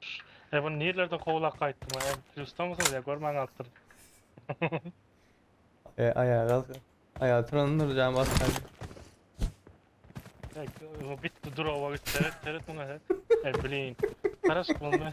Şşş e bunu nirlerden kowlap gaýtdym a em plusdamysyňyz ýa görmän galypdyryn. E aýaga alsa. Aýaga turan Nurjan bassaýdy. Ek bu bitdi durowa git seret seret muňa he. E blin. Garaşyp bolmaý.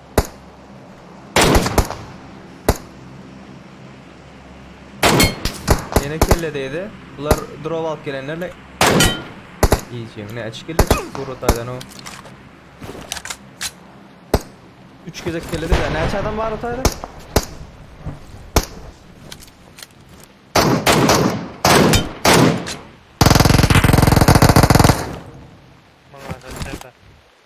Ýene kelle degdi. Bular drop alyp gelenler ne? Ne iýjek? Ne üç kelle çykdy Gurultaýdan o. Üç gezek kelle degdi. Näçe adam bar otayda?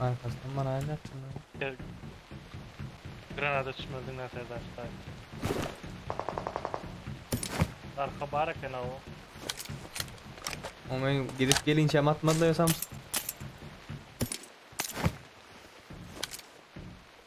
Arkasından bana aynı yaptın lan. Gel. Granada çmöldün lan Serdar Tay. Arka bar eken o. Ama ben gidip gelince hem atmadılar ya Samsun.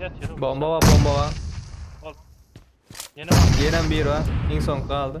Yat yürü. Bomba bar, bomba bar. Ol. Yine var. Ýenem biri bar. Iň soňky galdy.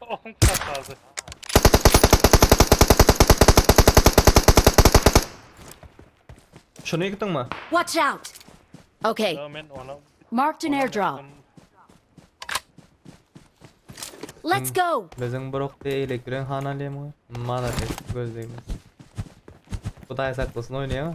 Okuň çakaldy. Şuny ýykdyňmy? Watch out! Okay. Ýa men onam. Marked an airdrop. Let's go! Biziň bir okdy eýle giren hana lemga. Malades gözlegimiz. Hudaý saklasyn oýnaýaňa.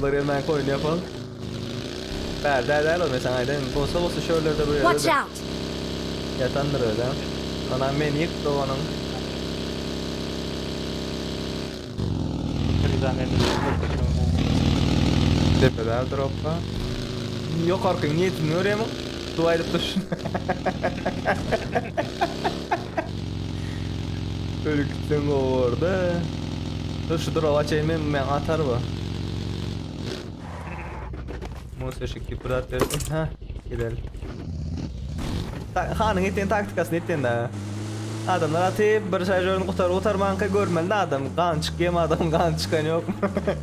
Görýän oýun ýok ol. Bäl däl däl ol men saňa aýdaýyn. Bolsa bolsa şu ýerlerde bu ýerde. Ýatandyr özem. Onam meni ýyk doganyň. Depede dropba. Ýokarky niýetini görýämiň? Dua edip dur. Ölüp gitsen gowarda. Dur şu duraga çeýin men men atar bu. Musa şu kiprat bersin. Ha, gidel. Ta hanyň etýän taktikasyny etýän da. Adamlar atyp bir şarjörini gutar gutarmanka görmeli adam. Gan çykýam adam gan çykan ýokmy?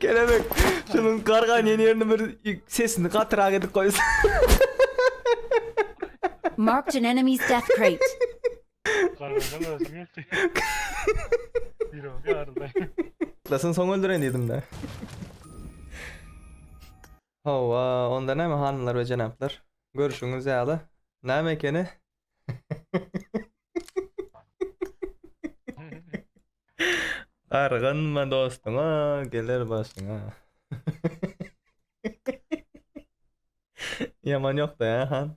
Kelebek şunuň gargan ýerini bir sesini gatyrak edip goýsa. Marked an enemy's death crate. Ýatlasyn soň öldüreýin diýdim-de. Hawa, onda näme hanymlar we jenaplar? Görşüňiz ýaly, näme ekeni? Gargynma dostuňa, geler başyňa. Ýaman ýok-da, hä, han?